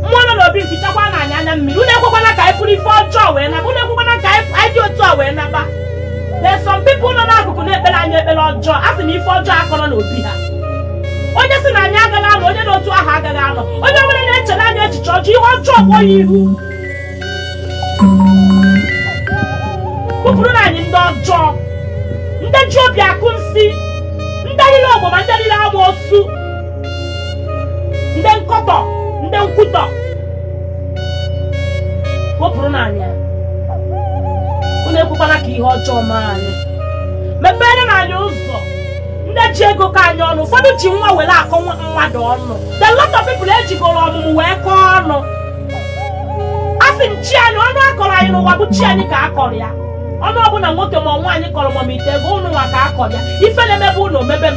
mmụọ nọ n'obi fichakwa na anya na mmiri unu ekwekwana ka anyị buru ife ọjọọ wee naba unu ekwekwana ka anyị anyị dị otu a wee naba there are some people nọ n'akụkụ na-ekpere anyị ekpere ọjọọ a sị na ife ọjọọ akọrọ n'obi ha onye sị na anyị agaghị anọ onye n'otu ahụ agaghị anọ onye ọbụla na-echere anyị echiche ọjọọ ihe ọjọọ kpọọ ya ihu kpọpụrụnụ anyị ndị ọjọọ ndị ji obi akọ nsị ndị riri ọgbọma ndị riri agba osu ndị nkọtọ ndị nkwutọ wepụrụnụ anyị unu ekwekwana ka ihe ọjọọ mee anyị meperenụ anyị ụzọ ndị ji ego akọ anyị ọnụ ụfọdụ ji nwa were akọ nwa mmadụ ọnụ the lot of people ejigoro ọmụmụ wee kọọ ọnụ asị m chi anyị ọnụ a kọrọ anyị n'ụwa bụ chi anyị ka a kọrọ ya ọnụ ọbụla nwoke ma nwaanyị kọrọ ma m ite ego unu nwa ka a kọrọ ya ife na-emebe unu o mebe m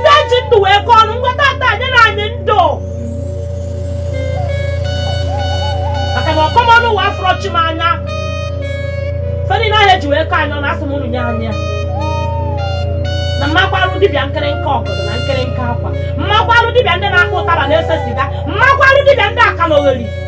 ndị ji ndụ wee kọọ ọnụ ngwa tata nyenụ anyị ndụ maka na ọkọ m ọnụ ụwa afụrọ chi m anya ife dị na ahịa e ji wee kọọ anyị ọnụ asị m unu nye anyị ya na mmakwarụ dibịa nkịrịnka ọgọdọ na nkịrịnka akwa mmakwarụ dibịa ndị na-akpọ ụtaba na-ese siga mmakwarụ dibịa ndị akalogheri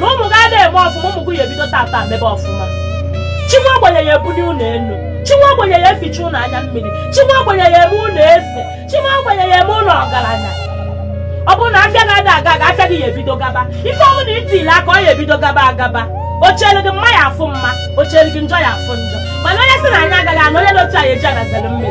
na ụmụ gị adịghị eme ọfụma ụmụ gị ya ebido tata mebe ọfụma chi nwa ogbenye ya ebuli unu elu chi nwa ogbenye ya eficha unu anya mmiri chi nwa ogbenye ya eme unu eze chi nwa ogbenye ya eme unu ọgaranya ọ bụrụ na afịa gị ada aga aga afịa gị ya ebido gaba ife ọbụna i tile aka ọ ya ebido gaba agaba o cheelu gị mma ya afụ mma o cheelu gị njọ ya afụ njọ mana onye sị na anyị agaghị anọ onye na otu anyị eji agazere mmiri